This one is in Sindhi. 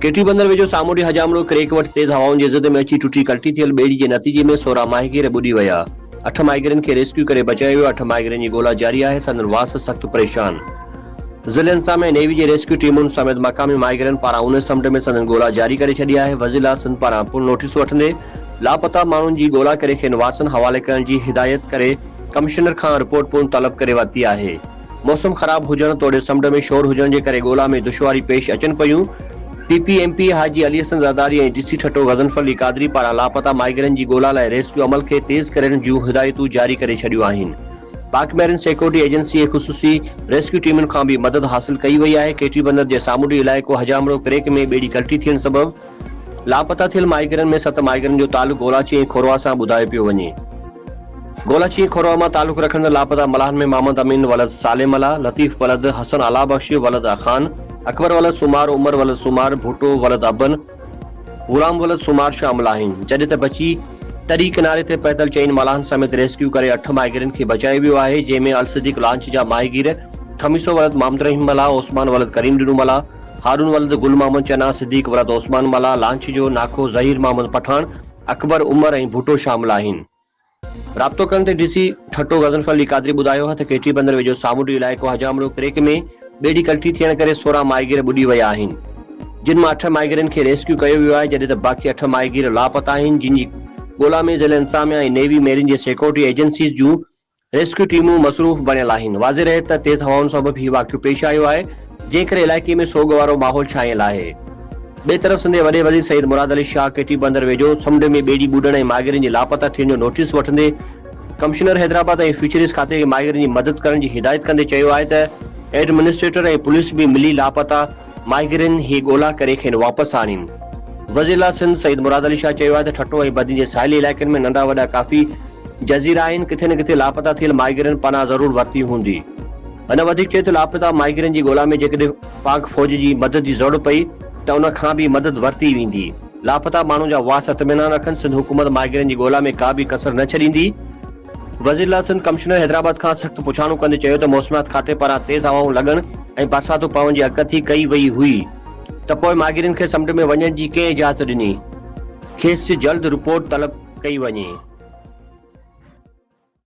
ڪيٽي بندر ويجهو سامونڊي حجامڙو ڪريڪ وٽ تيز هوائن جي زد ۾ اچي ٽٽي ڪلٽي ٿيل ٻيڙي جي نتيجي ۾ سورهن ماهيگير ٻڏي ويا، اٺ ماهيگيرن کي ريسڪيو ڪري بچايو ويو، اٺ ماهيگيرن جي ڳولا جاري آهي، سندن وارث سخت پريشان. ضلعي انسان ۾ نيوي جي ريسڪيو ٽيمن سميت مقامي ماهيگيرن پاران اونهي سمنڊ ۾ سندن ڳولا جاري ڪري ڇڏي آهي، وزيراعليٰ سنڌ پاران پڻ نوٽيس وٺندي لاپتا ماڻهن جي ڳولا ڪري کين وارثن حوالي ڪرڻ جي هدايت ڪري ڪمشنر کان رپورٽ پڻ طلب ڪري ورتي آهي. موسم خراب هجڻ توڙي سمنڊ ۾ شور هجڻ جي ڪري ڳولا ۾ دشواري پيش اچن پيون، P P M P Haji Ali Hassan Zardari ۽ D C Thatta Ghazanfar Ali Qadri پاران لاپتا مائيگرن جي ڳولا لاء ريسڪيو عمل کي تيز ڪرڻ جون هدايتون جاري ڪري ڇڏيون آهن پاڪ ميرين سيڪيورٽي ايجنسي ۽ خصوصي ريسڪيو ٽيمن کان به مدد حاصل ڪئي وئي آهي ڪيٽي بندر جي سامونڊي علائقو حجامڙو ڪريڪ ۾ ٻيڙي ڪلٽي ٿيڻ سبب لاپتا ٿيل مائيگرن ۾ ست مائيگرن جو تعلق گولاچي ۽ کوروا سان ٻڌايو پيو وڃي. گولاچي ۽ کوروا مان تعلق رکندڙ لاپتا ملاحن ۾ محمد امين ولد صالح ملاح، لطيف ولد حسن اعليٰ بخش ولد اخان، اڪبر ولد سومار، عمر ولد سومار، ڀٽو ولد ابن، غلام ولد سومار شامل آهن، جڏهن ته بچي تري ڪناري تي پهتل چئن ملاحن سميت ريسڪيو ڪري اٺ مائيگرن کي بچايو ويو آهي، جنهن ۾ الصديق لانچ جا ماهيگير، خميسو ولد محمد رحيم ملاح، عثمان ولد ڪريم ڏنو ملاح، هارون ولد گل محمد چنا، صديق ولد عثمان ملاح لانچيجو، ناکو ظهير محمد پٺاڻ، اڪبر عمر ۽ ڀٽو شامل آهن. رابطو ڪرڻ تي ڊي سي ٺٽو غضنفر علي قادري ٻڌايو هه ته ڪيٽي بندر ويجهو سامونڊي علائقو حجامڙو ڪريڪ ۾ ٻيڙي ڪلٽي ٿيڻ ڪري سورهن ماهيگير ٻڏي ويا آهن جن مان اٺ ماهيگيرن کي ريسڪيو ڪيو ويو آهي جڏهن ته باقي اٺ ماهيگير لاپتا آهن جن جي ڳولا ۾ ضلعي انتظاميا ۽ نيوي ميرين جي سيڪورٽي ايجنسيز جون ريسڪيو ٽيمون مصروف بڻيل آهن، واضح رهي ته تيز هوائن سبب هي واقعو پيش آيو آهي، جنهن ڪري علائقي ۾ سوڳ وارو ماحول ڇانيل آهي. ٻئي طرف سنڌي وڏي وزير سيد مراد علي شاهه ڪي ٽي بندر ويجهو سمنڊ ۾ ٻيڙي ٻڏڻ ۽ ماهگيرن جي لاپتا ٿيڻ جو نوٽيس وٺندي ڪمشنر حيدرآباد ۽ فشريز کاتي کي ماهگيرن جي مدد ڪرڻ جي هدايت ڪندي چيو آهي ته ايڊمنسٽريٽر ۽ پوليس به ملي لاپتا ماهيگيرن هي ڳولا ڪري کين واپس آڻين. وزيراعليٰ سنڌ سيد مراد علي شاهه چيو آهي ته ٺٽو ۽ بدين جي ساحلي علائقن ۾ ننڍا وڏا ڪافي جزيرا آهن، ڪٿي نه ڪٿي لاپتا ٿيل ماهيگيرن پناهه ضرور ورتي هوندي. هن وڌيڪ چيو ته لاپتا ماهيگيرن جي ڳولا ۾ جيڪڏهن پاڪ فوج جي مدد جي ضرورت پئي ته ان کان به مدد ورتي ويندي، لاپتا ماڻهن جا واس اطمينان رکن، سنڌ حڪومت ماهيگيرن جي ڳولا ۾ ڪا به ڪسر نه ڇڏيندي. وزيراعليٰ سنڌ ڪمشنر حيدرآباد کان سخت پڇاڻو ڪندي چيو ته موسميات کاتي پاران تيز هوائون لڳڻ ۽ برساتون پوڻ جي اڳڪٿي ڪئي وئي هئي ته پوء ماهگيرن کي سمنڊ ۾ وڃڻ جي ڪنهن اجازت ڏني کيس جلد رپورٽ طلب ڪئي وڃي.